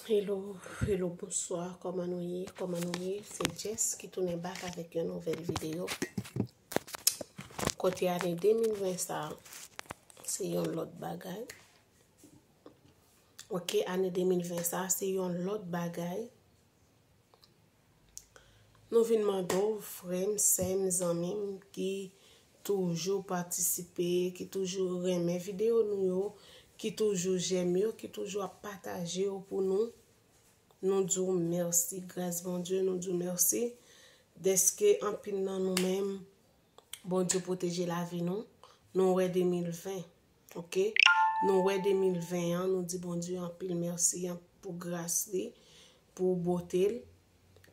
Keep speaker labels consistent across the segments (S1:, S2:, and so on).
S1: Hello, hello, bonswa, koman nou ye, koman nou ye, se Jess ki tounen bak avèk yon nouvel videyo. Kote ane 2020 sa, se yon lot bagay. Ok, ane 2020 sa, se yon lot bagay. Nou vin mande w frè m, sè m, zanmi m ki toujou patisipe, ki toujou renmen videyo nou yo, ki toujou jèm yo, ki toujou ap pataje yo pou nou, nou di w mèsi, gras Bondye nou di w mèsi, dèske anpil nan nou menm Bondye pwoteje lavi nou, nou wè 2020 ok, nou wè 2020 an nou di Bondye anpil mèsi pou gras li, pou bote l,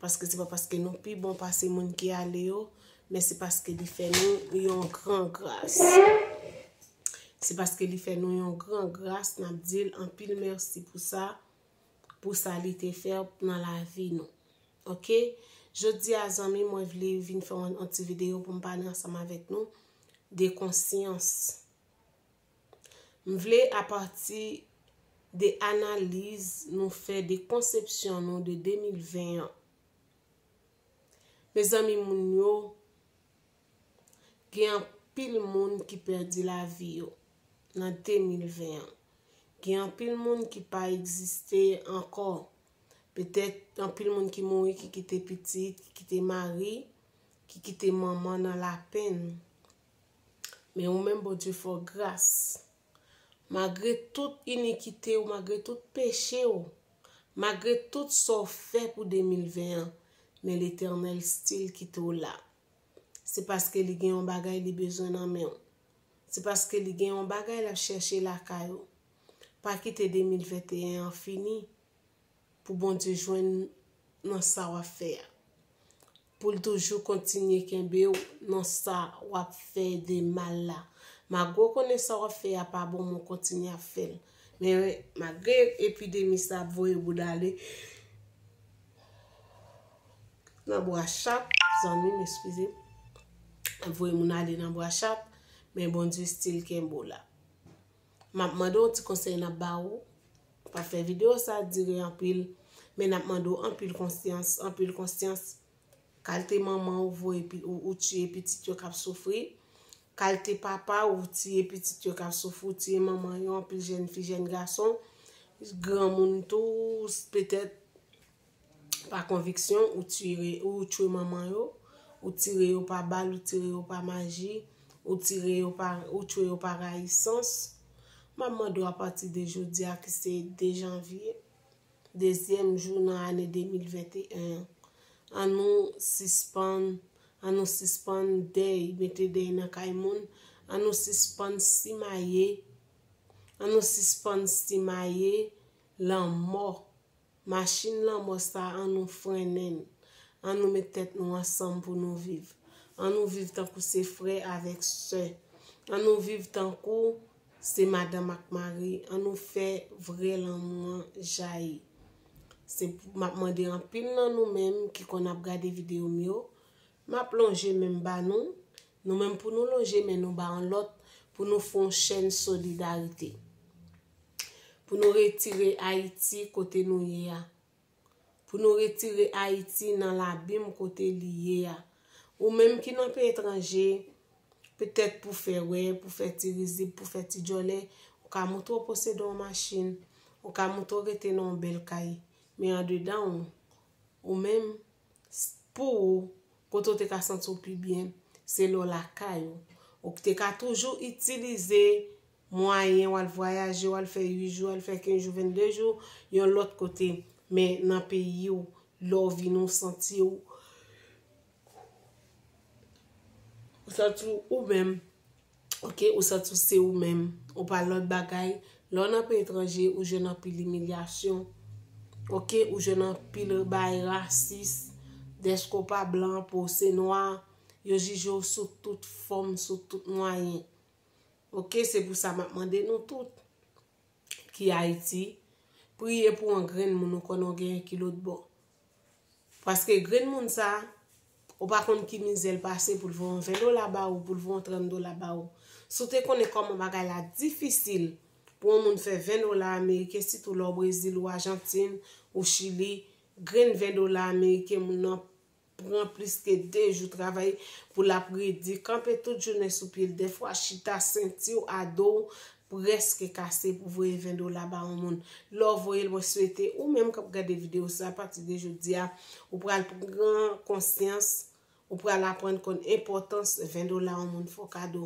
S1: paske se pa paske nou pi bon pase moun ki ale yo, men se paske li fè nou yon gran gras. Se paske li fè nou yon gran gras, n ap di l anpil mèsi pou sa. pou sa li te fè nan lavi nou ok jodi a zanmi mwen vle vin fè yon ti video pou m pale ansanm avèk nou de konsyans m vle apati de analiz nou fè de konsepsyon nou de 2020 an mezanmi moun yo Gen anpil moun ki pèdi lavi yo nan 2020 an. Gen anpil moun ki pa egziste ankò. Petèt anpil moun ki mouri ki kite pitit, ki kite mari, ki kite manman nan lapenn. Men ou menm Bondye fè w gras. Magre tout inikite ou, magre tout peche ou, magre tout sa w fè pou 2020 an, men Letènèl stil kite w la. Se paske li gen yon bagay li bezwen nan men w. Se paske li gen yon bagay l ap chèche lakay ou. Pa kite 2021 an fini pou Bondye jwenn nan sa w ap fè a. Pou l toujou kontinye kenbe w nan sa w ap fè de mal la. Magre w konnen sa w ap fè a pa bon men w kontinye ap fè l. Men magre epidemi sa ap voye bouda li. Nan bwachap zanmim eskize. Ap voye moun ale nan bwachap men Bondye stil kenbe w la. Map mande w ti konsèy nap ba ou, pa fè video sa dire anpil men nap mande w anpil konsyans, anpil konsyans kalte manman ou voye ou tiye pitit yo kap soufri, kalte papa ou tiye pitit yo kap soufri, ou tiye manman yo anpil jèn fi jèn gason, granmoun tou petèt. pa konviksyon ou tire ou tchwe manman yo ou tire yo pa bal ou tire yo pa maji ou tire yo pa ou tchwe yo pa rayisans map mande ou apati de jodi a ki se 2 janvye dezyèm jou nan ane 2021 an nou sispann an nou sispann dèy mete dèy nan kay moun an nou sispann simaye an nou sispann simaye lanmò Machin lanmò sa an nou frennen l, an nou met tèt nou ansanm pou nou viv, an nou viv tankou se frè avèk sè, an nou viv tankou se madanm ak mari, an nou fè vrè lanmou an jayi. Se pou, m ap mande anpil nan nou menm ki konn ap gade videyo m yo, Map lonje menm ba nou, nou menm pou nou lonje men nou ba yon lòt pou nou fon chèn solidarite. Pou nou retire Ayiti kote nou ye a. Pou nou retire Ayiti nan labim kote li ye a. Ou menm ki nan peyi etranje, petèt pou fè wè, pou fè ti rizib, pou fè ti djòlè, ou ka moutre ou posede yon machin, ou ka moutre ou rete nan yon bèl kay, men andedan ou, ou menm, pou ou kote ou te ka santi w pi byen se lè w lakay ou. Ou te ka toujou itilize mwayen w al vwayaje, w al fè 8 jou, al fè 15 jou, 22 jou yon lòt kote. Men nan peyi w, lè w vini w santi w ou menm. ok ou santi w se ou menm, ou pa lòt bagay, lè w nan peyi etranje ou jwenn anpil imilyasyon, ok ou jwenn anpil bay rasis, dèske w pa blan, po w se nwa, yo jije w sou tout fòm, sou tout mwayen, ok se pou sa m ap mande nou tout ki Ayiti, priye pou yon grenn moun ou konnen w genyen ki lotbò, Paske grenn moun sa, ou pa konn ki mizè l pase pou l voye yon 20 dola ba ou, pou l voye yon 30 dola ba ou. Si w te konnen kòman bagay la difisil pou yon moun fè 20 dola ameriken, sitou lè w Brezil ou Ajantin ou Chili, grenn 20 dola ameriken moun nan pran plis ke 2 jou travay pou l ap redi, kanpe tout jounen sou pye l, dèfwa chita senti w a do w preske kase pou voye 20 dola ba yon moun lè w voye l mwen swete ou menm kap gade video sa apati de jodi a ou pral pran konsyans ou pral aprann konn enpòtans 20 dola yon moun fè w kado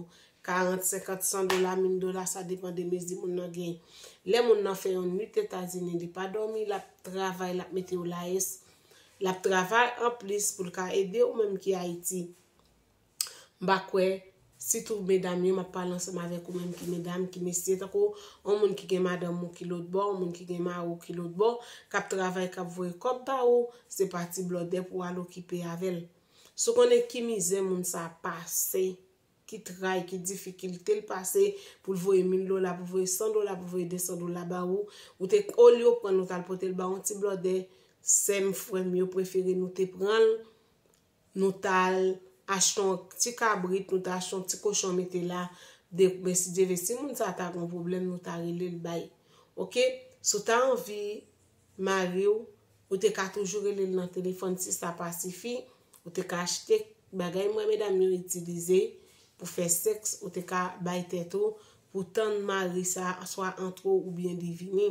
S1: 40 50 100 dola 1000 dola sa depan de mezi moun nan gen lè moun nan fè yon nwit etazini li pa dòmi lap travay lap mete w layès lap travay anplis pou l ka ede ou menm ki ayiti. M pa kwè, sitou medam yo, m ap pale ansanm avèk ou menm ki medam, ki mesye, tankou yon moun ki gen madanm ou ki lotbò, yon moun ki gen mari w ki lotbò, k ap travay, k ap voye kòb ba ou, se pa ti blòdè pou w al okipe avè l. Si w konnen ki mizè moun sa a pase, ki tray, ki difikilte l pase pou l voye mil dola, pou l voye san dola, pou l voye desan dola ba ou, ou te, olye w pran l ou t al pote l ba yon ti blòdè, sè m, frè m, yo prefere nou te pran l, Nou tal achte yon ti kabrit nou ta achte yon ti kochon mete la de mèsi Dyeve si moun sa ta gon pwoblèm nou ta relel bay ok si w ta anvi mari w ou te ka toujou relel nan telefòn si sa pa sifi ou te ka achte bagay m wè medam yo itilize pou fè sèks ou te ka bay tèt ou pou tann mari sa swa antre w oubyen li vini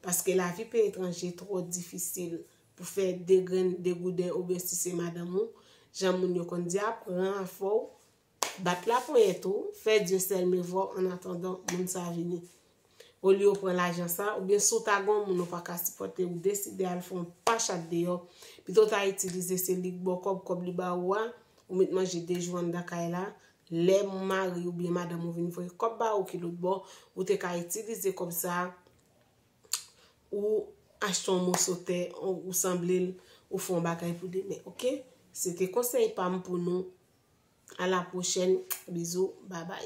S1: paske lavi peyi etranje twò difisil pou fè 2 grenn degouden oubyen si se madanm ou, jan moun yo konn di a, pran afè w, bat laponyèt ou, fè Dieuseul me voit en attendant moun sa vini. Olye w pran lajan sa, oubyen si w ta gen yon moun ou pa ka sipòte ou deside al fè yon pachat deyò, pito w ta itilize se li k ba w kòb, kòb li ba ou a, ou met manje 2 jou anndan kay la, lè mari oubyen madanm ou vin voye kòb ba ou ki lòtbò, ou te ka itilize kòb sa, ou achte yon moso tè ou sanblel ou fè yon bagay pou demen ok se te konsèy pam pou nou a la pwochèn bizou babay.